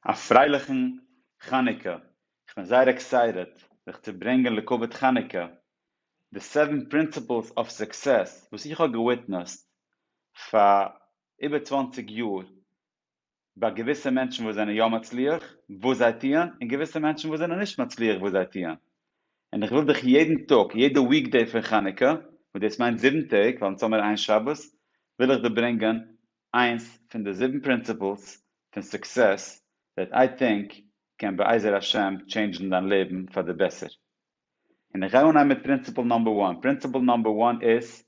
א פרייליכן חנוכה, איך בין זייער עקסייטעד זיך צו ברענגען לכבוד חנוכה די סעווען פרינסיפלס אף סוקסעס וואס איך האב געוויטנעסט פאר איבער צוואַנציק יאר ביי געוויסע מענטשן וואס זענען יא מצליח וואס זיי טוען און געוויסע מענטשן וואס זענען נישט מצליח וואס זיי טוען און איך וויל דיך יעדן טאג יעדע וויק דעי פון חנוכה וואס דאס מיינט זיבן טעג ווייל אונז האמיר איין שבת וויל איך דיר ברענגען איינס פון די זיבן פרינציפלס פון סוקסעס וועט איי טינק קען בעזר השם טשעינדזשן דיין לעבן פאר די בעסער. און איך גיי אנהייבן מיט פרינציפל נאמבער וואן, פרינציפל נאמבער וואן איז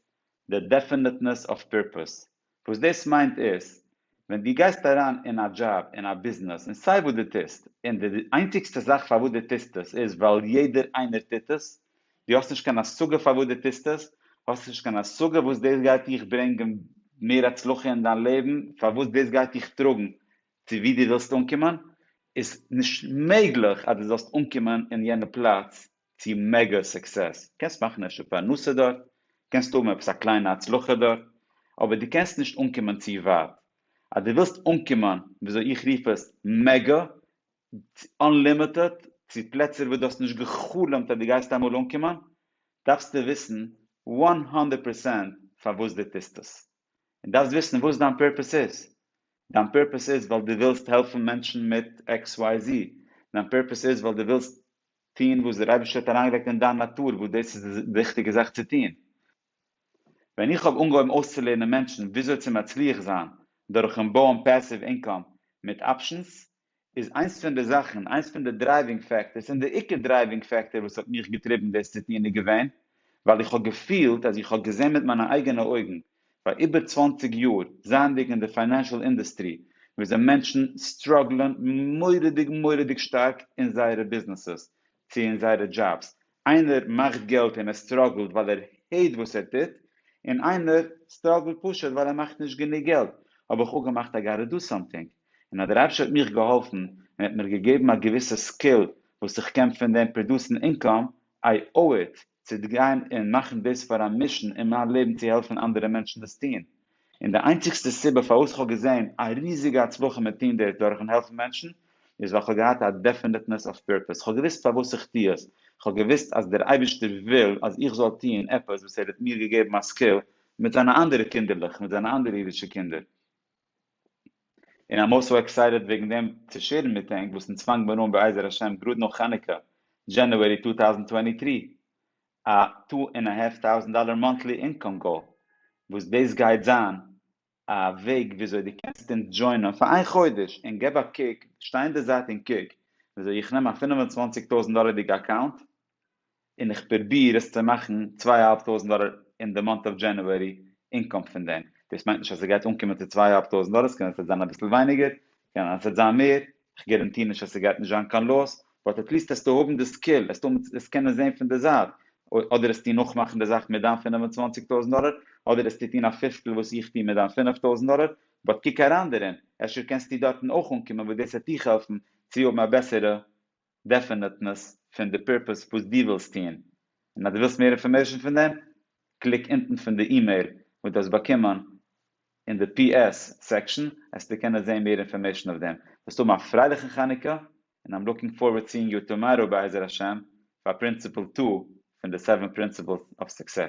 די דעפענעטנעס אוו פירפאס. וואס דאס מיינט איז, ווען דו גייסט אריין אין א דזשאב, אין א ביזנעס, אין סיי וואס דו טוסט, און די איינציגסטע זאך פארוואס דו טוסט עס איז ווייל יעדער איינער טוט עס, דו האסט נישט קיין השגה פארוואס דו טוסט עס, האסט נישט קיין השגה וואס דאס גייט דיך ברענגען מער הצלחה אין דיין לעבן, פארוואס דאס גייט דיך טראגן צו וואו דו ווילסט אנקומען, איז נישט מעגליך אז דו זאלסט אנקומען אין יענע פלאץ צו מעגא סוקסעס, קענסט מאכן אפשר פרנסה דארט, קענסט האבן עפעס א קליינע הצלחה דארט, אבער דו קענסט נישט אנקומען צו ווייט. אז דו ווילסט אנקומען וויאזוי איך רוף עס מעגא, אנלימיטעד צו פלעצער וואס דו האסט נישט גע'חלומ'ט אז דו גייסט אמאל אנקומען, דארפסטו וויסן וואן הונדערט פערסענט פארוואס דו טוסט עס. און דארפסט וויסן וואס דיין פורפעס איז. דיין פורפעס איז ווייל דו ווילסט העלפן מענטשן מיט XYZ. דיין פורפעס איז ווייל דו ווילסט טון וואס דער אייבערשטער האט אריינגעלייגט אין דיין נאטור וואס דאס איז די ריכטיגע זאך צו טון. ווען איך האב אנגעהויבן אויסצולערנען מענטשן וויאזוי צו מצליח זיין דורכ'ן בויען פעסיוו אינקאם מיט אפשענס, איז איינס פון די זאכן, איינס פון די דרייווינג פעקטארס, און די עיקר דרייווינג פעקטאר וואס האט מיך געטריבן דאס צו טון איז געווען, ווייל איך האב געפילט אז איך האב געזען מיט מיינע אייגענע אויגן, פאר איבער צוואַנציק יאר, זייענדיג אין די פיינענשאל אינדוסטרי, וויאזוי מענטשן סטראגלען מורא'דיג מורא'דיג שטארק אין זייערע ביזנעסעס, צו אין זייערע דזשאבס, איינער מאכט געלט און ער סטראגלט ווייל ער העיט וואס ער טוט, און איינער סטראגלט פשוט ווייל ער מאכט נישט גענוג געלט, האב איך אפגעמאכט I gotta do something, און א די רבש ע האט מיך געהאלפן און האט מיר געגעבן א געוויסע סקיל וואס איך קען פון דעם פראדוסן אינקאם, I owe it צו גיין און מאכן דאס פאר א מישן אין מיין לעבן צו העלפן אנדערע מענטשן דאס טון, און די איינציגסטע סיבה פארוואס איך האב געזען א ריזיגע הצלחה מיט טון דאס דורכ'ן העלפן מענטשן איז ווייל איך האב געהאט א דעפענעטנעס אוו פירפעס, איך האב געוואוסט פארוואס איך טו עס, איך האב געוואוסט אז דער אייבערשטער וויל אז איך זאל טון עפעס וואס ער האט מיר געגעבן א סקיל מיט זיינע אנדערע קינדערלעך, מיט זיינע אנדערע אידישע קינדער. און איי'ם סאו עקסייטעד וועגן דעם צו שעירן מיט ענק וואס אונז פאנגט מיר אן בעזר השם גראד נאך חנוכה, דזשענעווערי טו טאוזנט טווענטי טרי, א טו ענד א האלף טאוזענט דאלער מאנטלי אינקאם גאול, וואס דאס גייט זיין א וועג וויאזוי דו קענסט אונז דזשוינען פאר איין חודש, און געב א קוק, שטיי אין די זייט און קוק וויאזוי איך נעם א פֿינף און צוואַנציק טויזענט דאלערדיגע אקאונט, און איך פרוביר עס צו מאכן צוויי אהאלב טויזנט דאלער אין די מאנט אוו דזשענעווערי אינקאם פון דעם, דאס מיינט נישט אז עס גייט אנקומען צו צוויי אהאלב טויזנט דאלער, עס קען אז עס וועט זיין אביסל ווייניגער, עס קען אז עס וועט זיין מער, איך גאראנטיר נישט אז עס גייט נישט זיין קיין לאס, באט עטליסט העסטו האבן די סקיל, העסטו האבן עס קענען זען פון די זייט, אדער העסטו נאכמאכן די זאך מיט דיין פֿינף און צוואַנציק טויזנט דאלער, אדער העסטו טון א פיפטל וואס איך טו מיט דיין פֿינף טויזנט דאלער, באט קוק אריין דערין, אפשר קענסטו דארטן אויך אנקומען וואס דאס העט דיך העלפן צו האבן א בעסערע דעפענעטנעס פון די פירפעס וואס דו ווילסט טון, און אז דו ווילסט מער אינפארמעישן פון דעם, קליק אונטן פון די אימעיל וואס דו האסט באקומען אין די פי עס סעקשאן העסטו קענען זעהן מער אינפארמעישן אויף דעם. זאלסט האבן א פרייליכן חנוכה, און איים לוקינג פארווארד סיאינג יו טאמאראו בעזר השם פאר פרינציפעל טו פון די סעווען פרינציפעלס אוו סוקסעס.